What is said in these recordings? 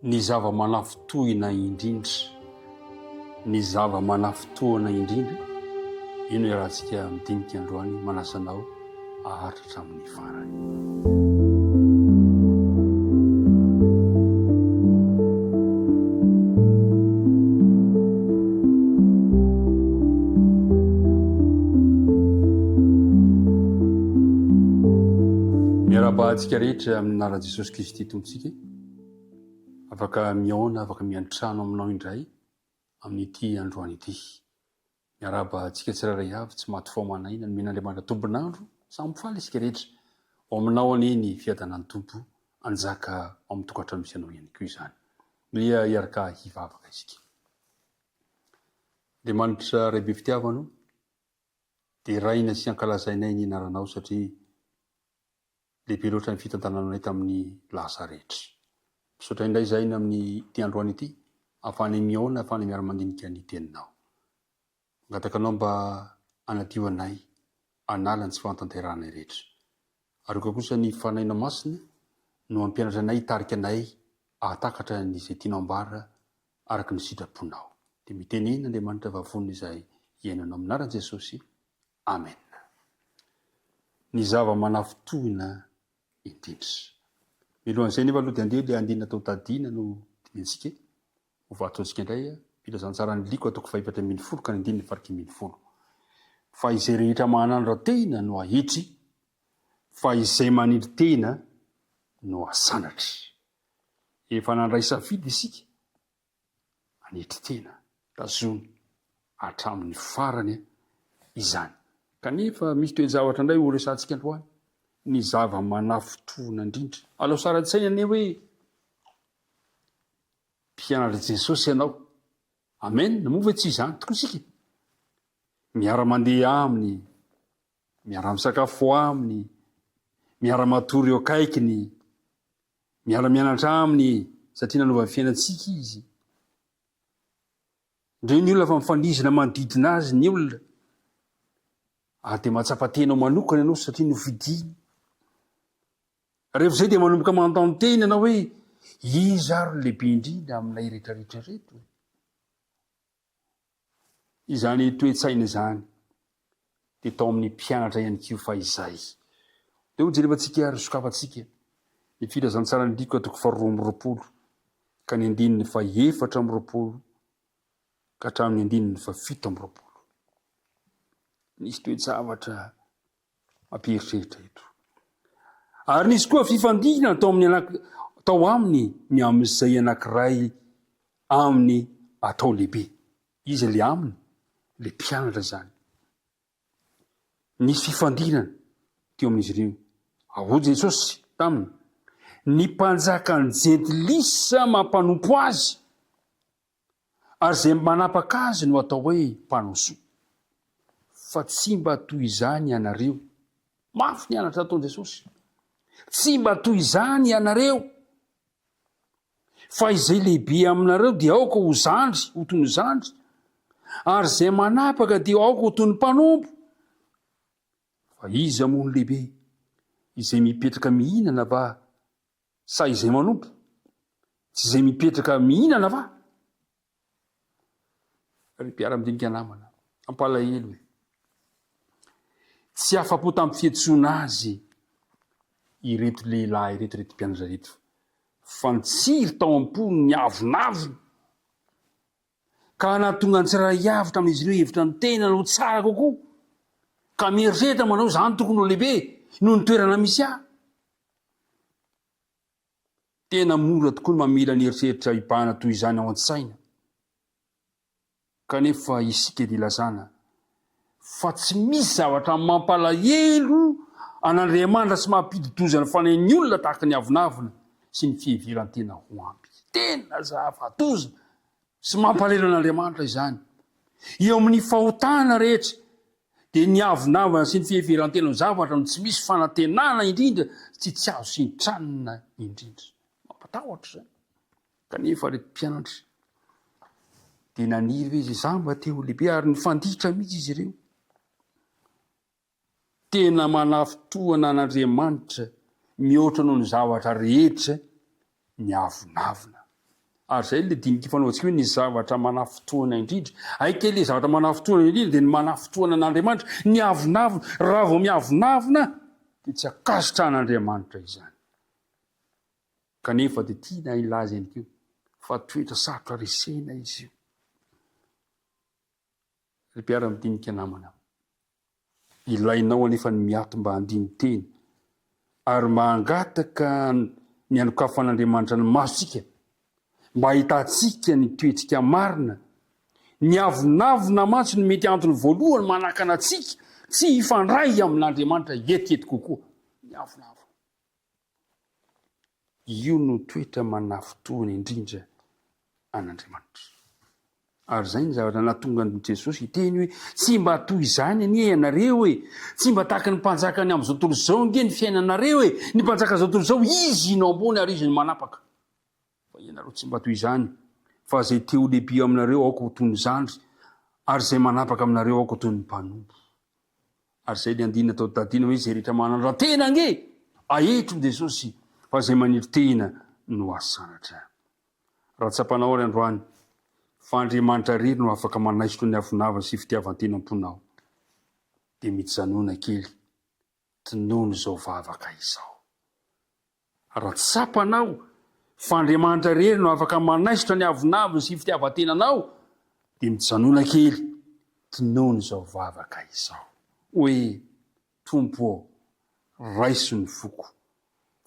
Ny zava-manafintohina indrindra, ny zava-manafintohina indrindra, io no iarahantsika midinika androany, manasa anao aharitra hatramin'ny farany. Miarabahantsika rehetra amin'ny anaran'i Jesosy Kristy Tompontsika. Afaka mihaona, afaka miantrano aminao indray amin'ity androany ity. Miarahaba antsika tsirairay avy, tsy maty fo aman' aina, nomen' Andriamanitra tompon' andro, samy faly isika rehetra. Ao aminao anie ny fiadanan'ny Tompo hanjaka ao amin'ny tokantrano misy anao ihany koa izany. Dia hiaraka hivavaka isika. Andriamanitra Ray be fitiavana o, deraina sy ankalazainay ny anaranao satria Lehibe loatra ny fitantananay tamin'ny lasa rehetra. Misaotra indray izahay amin'ity androany ity ahafahanay mihaona, ahafahanay miara-mandinika ny Teninao. Mangataka Anao mba hanadio anay, hanala ny tsy fahatanterahanay rehetra. Ary aoka kosa ny Fanahinao Masina no hampianatra anay, hitarika anay hahatakatra an'izay tianao ambara araka ny sitraponao. Dia mitenena Andriamanitra vavonina izay iainanao. Amin'ny anaran'i Jesosy. Amen. Ny zava-manafintohina indrindra. Mialohan'izay anefa aloha dia andeha ilay andinina tao Tadina no dinihintsika e. Ho vatontsika indray filazantsaran'ny liko atoko fahefatra ambin'ny folo ka ny andininy farakimy ambin'ny folo. Fa izay rehetra mahanandra tena no ahitry, fa izay manindry tena no asanatry. Efa nandray safidy isika manetry tena, tazony hatramin'ny farany izany. Kanefa misy toe-javatra indray horesahantsika androany, ny zava-manafintohina indrindra. Alao sary an-tsaina anie hoe mpianatr'i Jesosy ianao. Amen! Moa ve tsy izany tokoa isika? Miara-mandeha aminy, miara-misakafo aminy, miara-matory eo akaikiny, Miala mianatra aminy satria nanova ny fiainantsika izy. Reo ny olona fa mifandizina manodidina azy ny olona. Ary dia mahatsapa tena ho manokana ianao satria nofidiny. Rehefa izay dia manomboka manontany tena ianao hoe iza ary lehibe indrindra amin'ilay retraretra reto? Izany toe-tsaina izany dia tao amin'ny mpianatra ihany koa fahizay. Dia ho jerevantsika ary sokafantsika ny Filazantsaran'i Lioka toko faharoa amby roapolo ka ny andininy fahefatra amby roapolo ka hatramin'ny andininy fahafito amby roapolo. Nisy toe-javatra Mampieritreritra eto. Ary nisy koa fifandihina tao amin'ny anak tao aminy ny amin'izay anankiray aminy atao lehibe. Iza le aminy? Le mpianatra izany. Nisy fifandinana teo amin'izy ireo. Ahoa Jesosy taminy? Ny mpanjakan'ny jentilisa mampanompo azy. Ary izay manapaka azy no atao hoe mpanao soa. Fa tsy mba toy izany ianareo. Mafy ny anatra nataon'i Jesosy. Tsy mba toy izany ianareo. Fa izay lehibe aminareo dia aoka ho zandry, ho toy ny zandry. Ary izay manapaka dia aoka ho toy ny mpanompo. Fa iza moa no lehibe? Izay mipetraka mihinana va Sa izay manompo? Tsy izay mipetraka mihinana va? Ry mpiara-midinika namana, mampalahelo e! Tsy afa-po tamin'ny fihetsoana azy ireto lehilahy ireto, ireto mpianatra ireto, fa nitsiry tao am-pony ny avonavona. ka hanatonga ny tsirairay avy tamin'izy ireo hihevitra ny tenany ho tsara kokoa, ka mieritreritra manao hoe izany tokony ho lehibe noho ny toerana misy ahy. Tena mora tokoa ny mamela ny eritreritra hibahana toy izany ao an-tsaina, kanefa isika dia ilazana fa tsy misy zavatra mampalahelo an'Andriamanitra sy mampidi-doza ny fanahy ny olona tahaka ny avonavona sy ny fiheveran-tena ho ampy. Tena zava-doza sy mampalahelo an'Andriamanitra izany. Eo amin'ny fahotana rehetra, dia ny avonavona sy ny fiheveran-tena no zavatra no tsy misy fanantenana indrindra sy tsy azo sintranina indrindra. Mampatahotra izany. Kanefa ireto mpianatra dia naniry hoe izay izaho mba te ho lehibe ary nifanditra mihitsy izy ireo. Tena manafintohina an'Andriamanitra mihoatra noho ny zavatra rehetra ny avonavona. Ary izay ilay dinika fanaontsika hoe ny zavatra manafintohina indrindra. Aika ilay zavatra manafintohina indrindra dia ny manafintohina an'Andriamanitra ny avonavona. Raha vao miavonavona dia tsy ankasitrahan'Andriamanitra izany. Kanefa dia tiana hilaza ihany koa fa toetra sarotra resena izy io. Ry mpiara-midinika namana, ilainao anefa ny miato mba handini-tena ary mba hangataka ny hanokafan'Andriamanitra ny masontsika mba hahitantsika ny toetsika marina. Ny avonavona mantsy no mety antony voalohany manakana antsika tsy hifandray amin'Andriamanitra hetihety kokoa. Ny avonavona. Io no toetra manafintohina indrindra an'Andriamanitra. Ary izay ny zavatra nahatonga an'i Jesosy hiteny hoe, Tsy mba toy izany anie ianareo e! Tsy mba tahaka ny mpanjakan'ny amin'izao tontolo izao ange ny fiainanareo e! Ny mpanjakan'izao tontolo izao, izy no ambony ary izy no manapaka. Fa ianareo tsy mba toy izany, fa izay te-ho lehibe aminareo, aoka ho toy ny zandry, ary izay manapaka aminareo, aoka ho toy ny mpanompo. Ary izay ilay andininy tao Dadina hoe, Izay rehetra manandra-tena ange, aetro ny Jesosy, fa izay maniry tena no asanatra. Raha tsapanao ary androany, fa Andriamanitra irery no afaka manaisotra ny hafonava sy fitiavan-tenam-ponao, dia mijanona kely, tonony izao vavaka izao. Raha tsapanao fa Andriamanitra irery no afaka manaisotra ny avonavony sy fitiavan-tenanao, dia mijanona kely, tonony izao vavaka izao hoe, Tompo ô, raiso ny foko,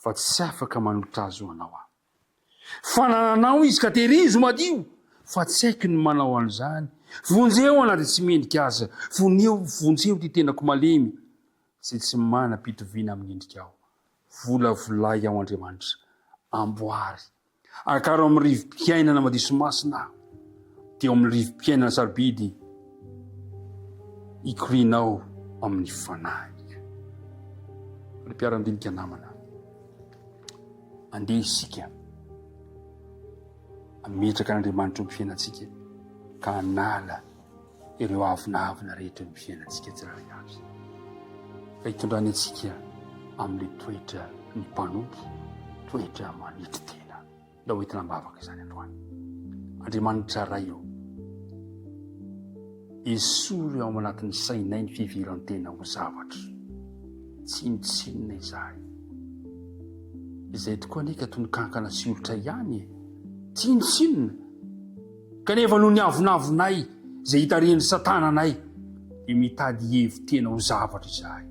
fa tsy afaka manolotra azy ho Anao aho. Fanananao izy ka tehirizo madio, fa tsy haiko ny manao an'izany. Vonjeo aho na dia tsy mendrika aza, vonio, vonjeo ity tenako malemy. izay tsy manam-pitoviana amin'ny endrikao. Volavolay ao Andriamanitra. Amboary. Akaro amin'ny rivo-piainana madio sy masina aho. Dia ao amin'ny rivo-piainana sarobidy, ikorianao amin'ny fanahiko. Ry mpiarandinika namana, andeha isika ametraka an'Andriamanitra eo amin'ny fiainantsika ka hanala ireo avonavona rehetra eo amin'ny fiainantsika tsirairay avy, fa hitondrany antsika amin'ilay toetra ny mpanompo, toetra manetry tena. Ndao hoentina am-bavaka izany androany. Andriamanitra Ray ô, esory ao anatin'ny sainay ny fiviran-tena ho zavatra, tsinontsinona izahay. Izay tokoa anie ka tononkànkana sy olitra ihany e, tsinontsinona. Kanefa noho ny avonavonay izay hitarihan'i Satana anay, dia mitady hihevi-tena ho zavatra izahay.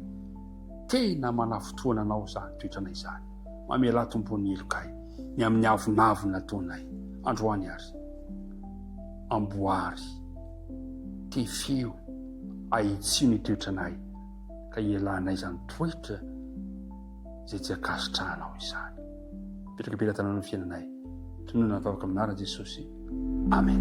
Tena manafintohina anao izany toetranay izany. Mamelà tompon'ny heloka ahy ny amin'ny avonavona ataonay androany ary amboary. Tefeo ahitsio ny toetranay ka hialanay izany toetra. izay tsy ankasitrahanao izany. Mipetraka be latananao ny fiainanay. Tononina ny vavaka amin'ny anaran'i Jesosy. Amen.